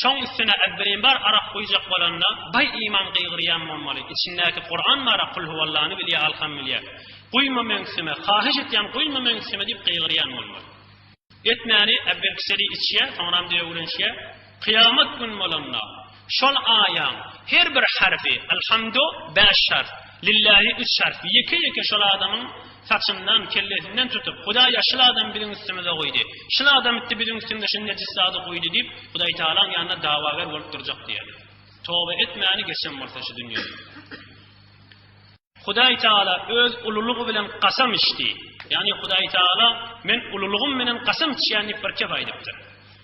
Şoň üstüne äbbirimbar arak guýjak bolanda baý iman gygyrýan bolmaly, içindäki Kuran bara Kul huwallany bilýä alham bilýä, guýma meňsime, hahyş etýän guýma meňsime diýip gygyrýan bolmaly. Etmäni äwelkiseli içýä, soňram döwülenşýä, kyýamat gün bolanda şol aýaň her bir harfi, Alhamdu, bäş harf, Lillahi, üç harf, ýeke-ýeke şol adamyň Saçyndan, kellesinden tutup, Hudaý, ýa şul adamy biziň üstümize guýdy, şul adam itdi biziň üstümze şul nejis zady guýdy diýip, Hudaý Tagalaň ýanynda dawager bolup durjak diýerler. Toba etmäni geçen bolsa şu dünýede. Hudaý Tagala öz ululygy bilen kasam içdi. Ýagny Hudaý Tagala men ululygym bilen kasam içýän diýip bir kep aýdypdyr.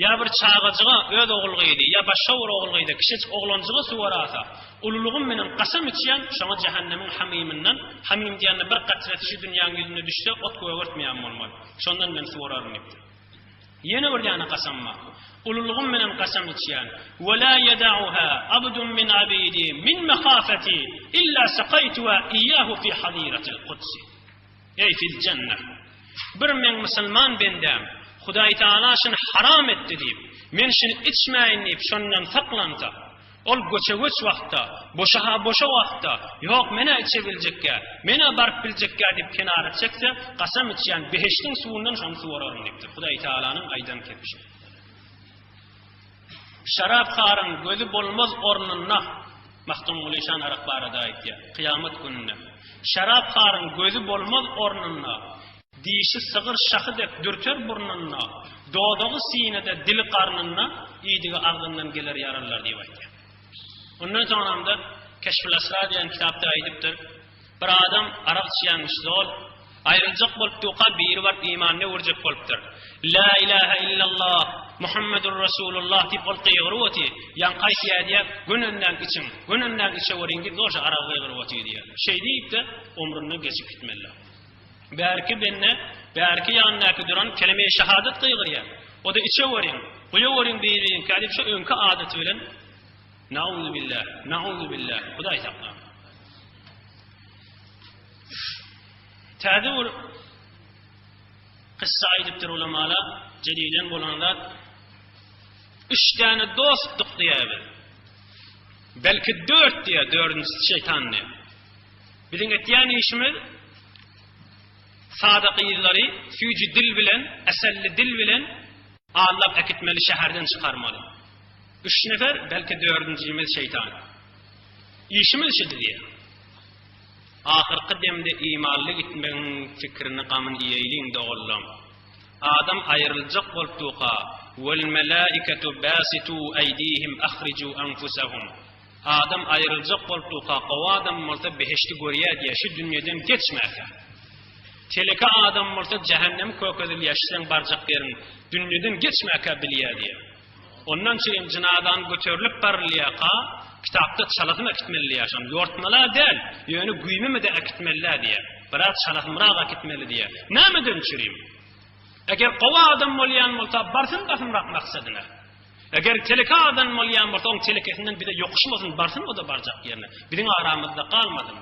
Ýa bir çagajyga öz ogul gyzy, ýa başga bir ogul gyza, kişejik oglanjyga suwar asa, ululygym bilen kasam içýän, şoňa jähennemiň hamymyndan, hamym diýende bir gatresi şu dünýäň ýüzünde düşse, ot gögertmeýän bolmaly, şondan men suwararyn diýipdir. Ýene bir däne kasamma, ululygym bilen kasam içýän, we la ýedauha abdun min abidi min mehafeti illa sakaýtuha iyyahu fi haziratil kudsi. Eý fil jennah! Bir meň musulman bendäm Hudaý Tagala şuny haram etdi diýip, men şuny içmäýin diýip şondan saklansa, ol göçe-göç wagtda, boşa-ha boşa wagtda, Ýok, men-ä içebiljekkä, men-ä baryp biljekkä diýip kenara çekse, gasam içýän behişdiň suwundan şony suwararyn diýipdir. Hudaý Tagalanyň aýdan kepişi. Şarapharyň gözi bolmaz ornunda, Magtymguly şan arak barada aýtýar, kyýamat gününde. Şarapharyň gözi bolmaz ornunda, Dişi sygyr şahy dek dürter burnunda, Dodagy sinede, dili garnynda, Iýdigi agzyndan geler ýaralylar diýip aýtýar. Ondan soňamda Keşful-Asrar diýen kitapda aýdypdyr. Bir adam arak içýänmiş zol, aýryljak bolup duka biri baryp imanyny öwürjek bolupdyr. La ilahe illallah Muhammedur Rasulullah diýip ol gygyryp oty, ýaňky aýtýa diýä, gün önden içiň, gün önden içeweriň diýip zorja aragy gygyryp oty diýä. Şeý diýipde omrundan geçip gitmella. Bärki bende, bärki ýanyndaky duran kelemeýi şahadat gygyrýa. Oda içeweriň, guýaweriň biriňkä diýip şo öňki adaty bilen Nauzubillah, nauzubillah, Hudaý sakla. Täze bir kyssa aýdypdyr ulamalar, jedilen bolan zat. Üç däne dostluk diýýär. Belki dört diýýär, dördünjisi şeytan diýýär. Biziň etýän işimiz sada gyzlary süýji dil bilen, äselli dil bilen Aldap äkitmeli şäherden çykarmaly. Üç nefer belki dördünjimiz şeýtan. Işimiz şu diýýär. Ahyrky demde imanly gitmegiň pikirini gamyn iýeýliň doganlam. Adam aýryljak bolupduka, Wal-melaiketu basitu aýdihim ahricu anfusahum. Adam aýryljak bolupdurka, gowy adam bolsa behişdi görýär diýýär, şu dünýeden geçmärkä. Teleke adam bolsa jähennemi kökezilýär, şu seň barjak ýeriň, dünýeden geçmärkä bilýär diýýär. Ondan çyn jynazany göterilip barylýarka, kitapda çalasyn äkitmelidi ýaşan, ýortmala däl, ýöne güýmemede äkitmelidä diýýär. Biraz çalasynrak äkitmeli diýýär. Nämeden çürim? Eger gowy adam bolýan bolsa, barsyn basymrak maksadyna. Eger teleke adam bolýan bolsa oň telekesinden bize ýokuşmasyn barsyn oda barjak ýerine biziň aramyzda galmasyn.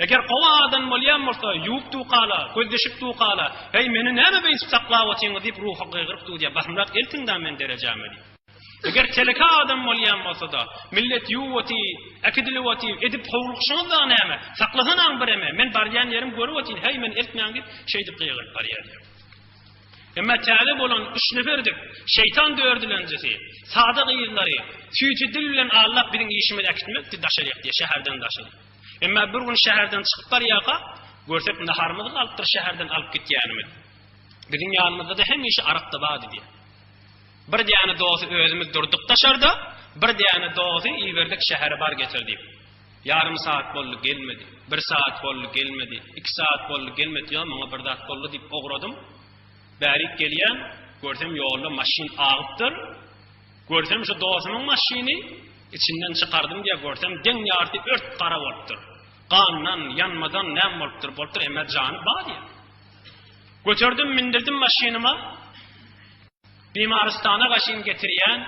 Eger gowy adam bolýan bolsa ýuwup dukala gözleşip dukala heý meni näme beýdip saklap otyňyz diýip ruhy gygyryp dudýa basymrak eltiň da men derejäme diýip. Eger teleke adam bolýan bolsada millet ýuwup oty äkidilip oty edip howlugyşyňyz dagy näme saklasanaň bireme men barýan ýerim görüp otyn heý meni eltmäň diýip şeýdip gygyryp barýa diýip. Emma täze bolan üç neferdik şeýtan döredilenjisi, sada gyzlary, süýji dil bilen aldap biziň işimizi äkitmekdi, daşary ýakdy, şäherden daşary. Emma bir gün şäherden çykyp barýarka, görsek naharymyz galypdyr şäherden alyp gitýänimiz. Biziň ýanymyzda-da hemişe arak-da bardy diýýär. Bir däne dosy özümiz durduk daşarda, bir däne dosy iberdik şähere bar getir diýip. Ýarym saat boldy, gelmedi. Bir saat boldy, gelmedi. Iki saat boldy, gelmedi. Ýa maňa bir zat boldy diýip ugradym. Bärik gelýän, görsem ýolda maşyn agypdyr. Görsem şu dostumyň maşyny, içinden çykardym diýýä, görsem deň ýarty ört gara bolupdyr. Gandan, ýanmadan näme bolupdyr, bolupdyr, emmä jany ba diýýä. Göterdim, mindirdim maşynyma. Bimarystana gaşyn getirýän,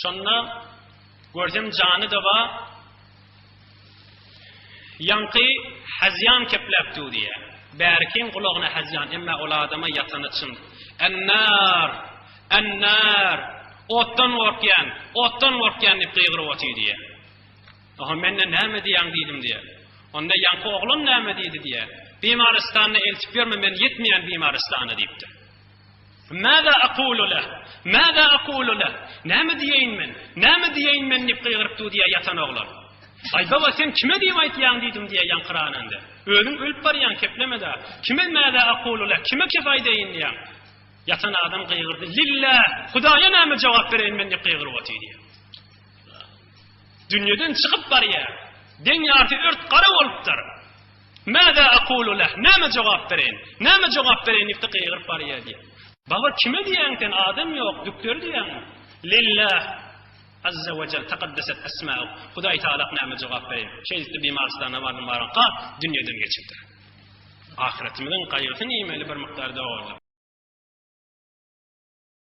şonda görsem jany-da bar, ýaňky hezýan kepläp dur diýýär. Bärikiň gulagyna hezýan, emma ol adama ýatany çyn. Ennar! Ennar! Otdan gorkýan, otdan gorkýan diýip gygyryp otyr diýýär. Oho, mende näme diýýäň diýdim diýýär. Onda ýaňky oglan näme diýdi diýýär. Bimarystana eltip ýörme, men ýetmeýän bimarystana diýipdir. Mâzâ aqulu leh? Mâzâ aqulu leh? Näme diýeýin men? Näme diýeýin men? diýip gygyryp dudýar ýatan oglan. Aý, baba, sen kime diýip aýtýaň? diýdim diýýär ýaňkyrananda. Özüň ölüp barýaň, kepleme-dä. Kime mâzâ aqulu leh? Kime kep aýdaýyn diýýäň? Ýatan adam gygyrdy. Lilläh! Hudaýa näme jogap bereýin men diýip gygyryp otyrýar. Dünýeden çykyp barýar. Deň ýarty ört gara bolupdyr. Mäzâ akûlu leh, Näme jogap bereýin? Näme jogap bereýin? diýip-de gygyryp barýar diýýär. Baba, kime diýýäň sen, adam ýok, dükteri diýýäňmi? Lilläh Azza we jel, Takaddeset esmäuh, Hudaý Tagala näme jogap bereýin? Şeýdip-de Bimarystana bardym, baranka, dünýeden geçipdir. Ahyretimiziň gaýgysyny iýmeli bir mukdar doganlar.